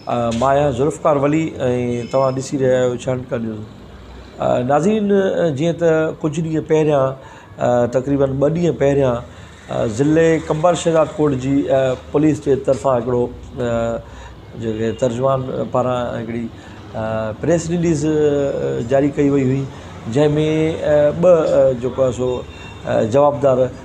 مان آهيان ذوالفقار ولي ۽ توهان ڏسي رهيا آهيو ڇنڊڪا نيوز ناظرين جيئن ته ڪجهه ڏينهن پهريان تقريبن ٻه ڏينهن پهريان ضلعي قمبر شهداد ڪوٽ جي پوليس جي طرفان هڪڙو جيڪي ترجمان پاران هڪڙي پريس رليز جاري ڪئي وئي هئي جنهن ۾ ٻه جيڪو آهي سو جوابدار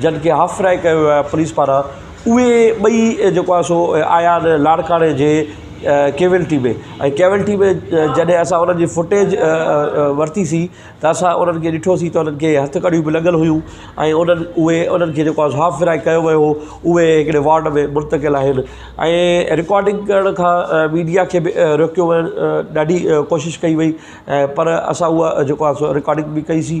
جڏھن کي ھاف فرائي ڪيو ويو آھي پوليس پاران اھي ٻئي جيڪو آھي سو آيا آھن لاڙڪاڻي جي ڪيولٽي ۾ ۽ ڪيولٽي ۾ جڏھن اسان انھن جي فوٽيج ورتي سي ته اسان انھن کي ڏٺو سي ته انھن کي ھٿ ڪڙيون به لڳل ھيون ۽ انھن اھي انھن کي جيڪو آھي سو ھاف فرائي ڪيو ويو ھو اھي ھڪڙي وارڊ ۾ منتقل آھن ۽ رڪارڊنگ ڪرڻ کان ميڊيا کي به روڪيو ويو ڏاڍي ڪوشش ڪئي وئي پر اسان اھا جيڪو آھي سو رڪارڊنگ به ڪئي سي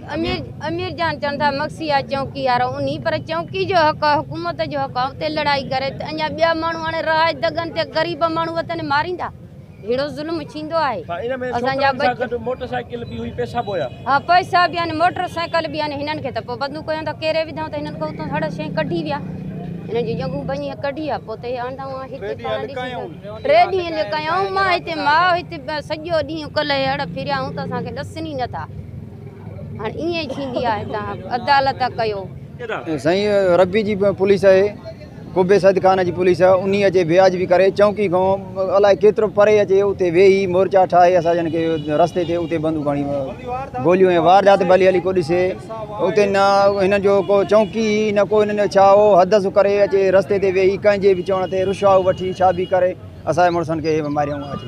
امير جان چون ٿا مگسي آ چونڪي وارو انهي پر چونڪي جو حق آ حڪومت جو حق آ اتي لڙائي ڪري ته اڃا ٻيا ماڻهو هاڻي رهائش دڳن تي غريب ماڻهو وتن ماريندا ههڙو ظلم ٿيندو آهي اسان جا ٻچا موٽر سائيڪل به هئي پئسا به هيا ها پئسا به آهن موٽر سائيڪل به آهن هنن کي ته پوء بندوق هيون ته ڪيري وڌائون ته هنن کي اتو هڙ شين ڪڍي ويا هنن جي ڄنگهون ڀڃي ڪڍي آ پوء ته هي آندا هئا هتي پاڻ ڏسي ٽي ڏينهن لڪايائون مان هتي ماء هتي سڄو ڏينهن ڪلهي هڙ ڦريا هون ته اسان کي ڏسن ئي نٿا هاڻي ائين ٿيندي آهي تان عدالت ڪيو. سائين ربي جي پوليس اهي قبي سيد خان جي پوليس انهي اچي وياج به ڪري چونڪي کان الائي ڪيترو پري اچي اتي ويهي مورچا ٺاهي اسا جن کي رستي تي اتي بندو کڻي گوليون ۽ واردات ڀلي هلي ڪو ڏسي اتي نه هن جو ڪو چونڪي نه ڪو هن جو ڇا هو حدس ڪري اچي رستي تي ويهي ڪنهن جي به چوڻ تي رشوا وٺي ڇا به ڪري اسا مڙسن کي ماريون اچي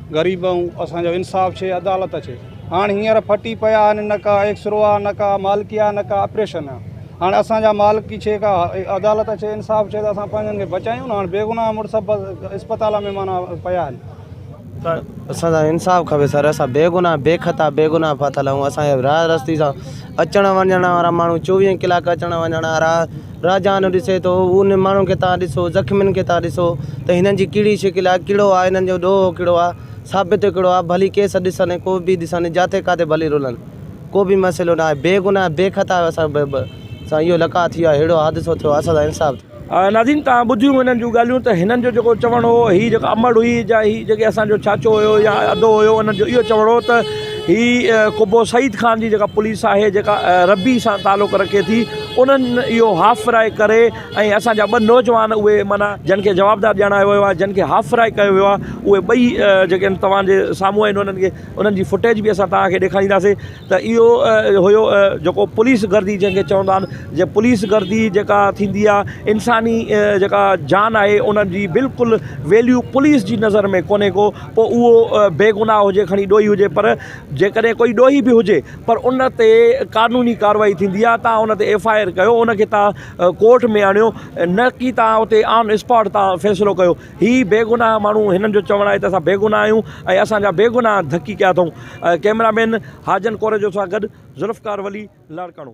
غريب آهون اسان جو انصاف ڇي عدالت اچي هاڻ هينئر ڦٽي پيا آهن نه ڪا ايڪسرو آهي نه ڪا مالڪي آهي نه ڪا آپريشن آهي هاڻ اسان جا مالڪي ڇي ڪا عدالت اچي انصاف ڇي ته اسان پنهنجن کي بچايون نه هاڻ بيگناهه مڙس اسپتال ۾ معنيٰ پيا آهن ته اسان سان انصاف کپي سر اسان بيگناهه بي خطا بيگناهه ڦاٿل آهيون اسان جا راهه رستي سان اچڻ وڃڻ وارا ماڻهو چوويهه ڪلاڪ اچڻ وڃڻ وارا راجاهانو ڏسي ٿو ان ماڻهن کي تان ڏسو زخمين کي تان ڏسو ته هنن جي ڪهڙي شڪل آهي ڪهڙو آهي هنن جو ڏوهو ڪهڙو آهي ثابت ڪهڙو آهي ڀلي ڪيس ڏسن ۽ ڪو به ڏسن جاٿي ڪاٿي ڀلي رلن ڪو به مسئلو ناهي بي گناهه بي خطا جو اسان ب ب سان اهو لقاء ٿي ويو آهي اهڙو حادثو ٿيو اسان سان انصاف ٿيو ناظرين تان ٻڌيون هنن جون ڳالهيون ته هنن جو جيڪو چوڻ هو هي جيڪا امڙ هئي جا هي جيڪي اسان جو چاچو هيو يا ادو هيو هنن جو اهو چوڻ هو ته هي قبو سعيد خان جي جيڪا پوليس آهي جيڪا ربي سان تعلق رکي ٿي انهن اهو هاف فرائي ڪري ۽ اسان جا ٻه نوجوان اهي معنيٰ جن کي جوابدار ڄاڻايو ويو آهي جن کي هاف فرائي ڪيو ويو آهي اهي ٻئي جيڪي آهن توهان جي سامهون آهن انهن کي انهن جي فوٽيج به اسان توهان کي ڏيکارينداسين ته اهو هيو جيڪو پوليس گردي جنهن کي چوندا آهن جي پوليس گردي جيڪا ٿيندي آهي انساني جيڪا جان آهي ان جي بلڪل ويليو پوليس جي نظر ۾ ڪونهي ڪو پوء اهو بيگناهه هجي کڻي ڏوهي هجي پر جيڪڏهن ڪوئي ڏوهي به هجي پر ان تي قانوني ڪاروائي ٿيندي آ تان ان تي ايف آء آر ڪيو ان کي تان ڪورٽ ۾ آڻيو نه ڪي تان اتي آن اسپاٽ تان فيصلو ڪيو هي بيگناهه ماڻهو هنن جو چوڻ آهي ته اسان بيگناهه آهيون ۽ اسان جا بيگناهه ڌڪي ڪيا اٿئون ڪيمرا مين حاجن ڪوريجو سان گڏ ذوالفقار ولي لاڙڪاڻو.